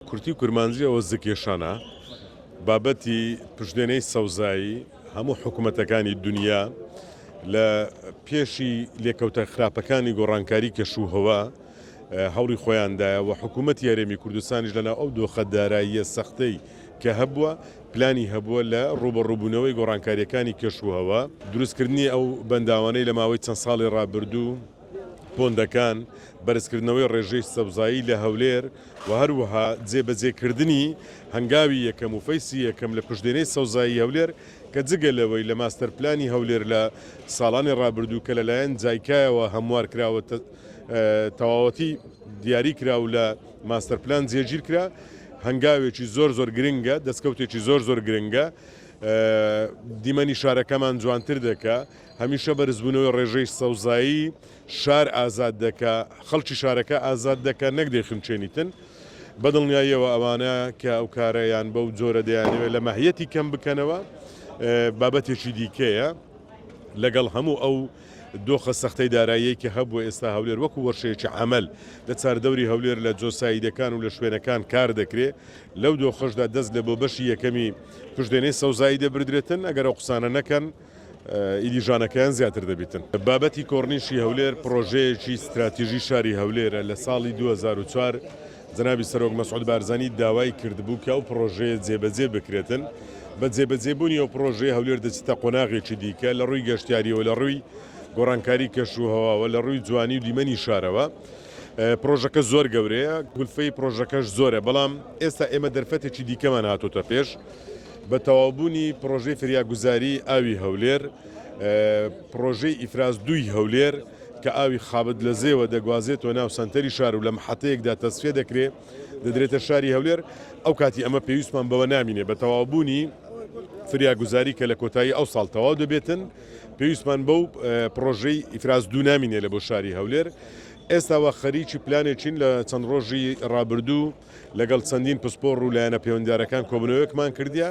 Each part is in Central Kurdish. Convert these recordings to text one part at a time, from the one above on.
کورتی و کورمانجی ئەوە زکێشانە بابەتی پشتێنەی سەوزایی هەموو حکومەتەکانی دونیا لە پێشی لێکەوتە خراپەکانی گۆڕانکاری کەش و هەوا هەوڵی خۆیاندایە و حکوومەت یارێمی کوردستانیش لەناو ئەو دۆخە داراییە سەختەی کە هەبووە پلانی هەبووە لە ڕوبەڕوبوونەوەی گۆڕانکاریەکانی کەش و هەوا دروستکردنی ئەو بەنداوانەی لە ماوەی چەند ساڵی ڕابردوو پۆندەکان، بەرزکردنەوەی ڕێژەی سەوزایی لە هەولێر و هەروەها جێبەجێکردنی هەنگاوی یەکەم و فەیسی یەکەم لە پشدێنەی سەوزایی هەولێر کە جگە لەوەی لە ماستەر پلانی هەولێر لە ساڵانی ڕابردوو کە لەلایەن جایکایەوە هەموار کراوە تەواوەتی دیاری کرا و لە ماستەر پلان جێگیر کرا هەنگاوێکی زۆر زۆر گرنگە دەستکەوتێکی زۆر زۆر گرنگە دیمەنی شارەکەمان جوانتر دەکە هەمیشە بەرزبوونەوەی ڕێژەی سەوزایی شار ئازاد دەکا، خەڵکی شارەکە ئازاد دەکا نەک دەیخنچێنیتن. بە دڵنیاییەوە ئەوانە کە ئەو کارە یان بەو جۆرە دەیانەوێ لە مەهیەتی کەم بکەنەوە بابەتێکی دیکەیە. لەگەڵ هەموو ئەو دۆخە سەختەی داراییەی کە هەبووە ئێستا هەولێر وەکو وەرشەیەکی عەمەل لە چاردەوری هەولێر لە جۆساییدەکان و لە شوێنەکان کار دەکرێ لەو دۆخەشدا دەست لە بۆ بەشی یەکەمی پشدێنەی سەوزایی دەبردرێتن ئەگەر ئەو قسانە نەکەن ئیدی ژانەکەیان زیاتر دەبیتن. بابەتی کۆڕنیشی هەولێر پڕۆژەیەکی ستراتیژی شاری هەولێرە، لە ساڵی دوو هەزار و چوار جەنابی سەرۆک مەسعود بارزانی داوای کردبوو کە ئەو پڕۆژەیە جێبەجێ بکرێتن، بە جێبەجێبوونی ئەو پڕۆژەیە هەولێر دەچیتە قۆناغێکی دیکە لە ڕووی گەشتیارییەوە، لە ڕووی گۆڕانکاری کەشوهەواوە، لە ڕووی جوانی و دیمەنی شارەوە پڕۆژەکە زۆر گەورەیە، کولفەی پڕۆژەکەش زۆرە، بەڵام ئێستا ئێمە دەرفەتێکی دیکەمان هاتۆتە پێش، بە تەواوبوونی پڕۆژەی فریاگوزاریی ئاوی هەولێر، پڕۆژەی ئیفراز دووی هەولێر کە ئاوی خابد لە زێوە دەگوازێتەوە ناو سەنتەری شار و لە محەتەیەکدا تەسفیە دەکرێ دەدرێتە شاری هەولێر، ئەوکاتی ئەمە پێویستمان بەوە نامینێ بە تەواوبوونی فریاگوزاری کە لە کۆتایی ئەوساڵ تەواو دەبێتن، پێویستمان بەو پڕۆژەی ئیفراز دوو نامینێ لە بۆ شاری هەولێر. ئێستا وا خەریکی پلانێکین لە چەند ڕۆژی ڕابردوو، لەگەڵ چەندین پسپۆڕ و لایەنە پێوەندیدارەکان کۆبوونەوەیەکمان کردیە،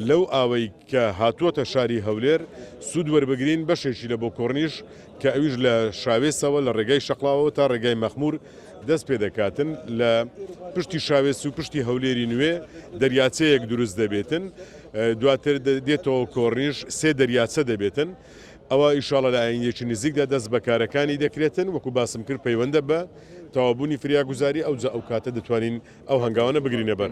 لەو ئاوەی کە هاتووەتە شاری هەولێر سوود وەربگرین، بەشێکی لە بۆ کۆرنیش کە ئەویش لە شاوێسەوە لە ڕێگای شەقڵاوەوە تا ڕێگای مەخموور دەست پێ دەکاتن، لە پشتی شاوێس و پشتی هەولێری نوێ دەریاچەیەک دروست دەبێتن، دواتر دێتەوە کۆرنیش سێ دەریاچە دەبێتن. ئەوا ئیشاڵا لە ئایندەیەکی نزیکدا دەست بە کارەکانی دەکرێتن، وەکو باسم کرد پەیوەندە بە تەواوبوونی فریاگوزاری، ئەوجا ئەو کاتە دەتوانین ئەو هەنگاوانە بگرینە بەر.